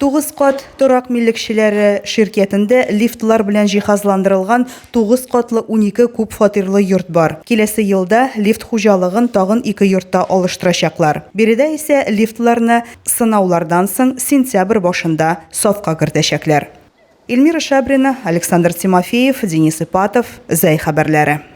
Тугыз кат торак милекчеләре ширкятендә лифтлар белән җиһазландырылган тугыз катлы унике күп фатирлы йорт бар. Киләсе елда лифт хуҗалыгын тагын ике йортта алыштырачаклар. Биредә исә лифтларны сынаулардан соң сентябрь башында сафка кертәчәкләр. Эльмира Шабрина, Александр Тимофеев, Денис Ипатов, Зәй хәбәрләре.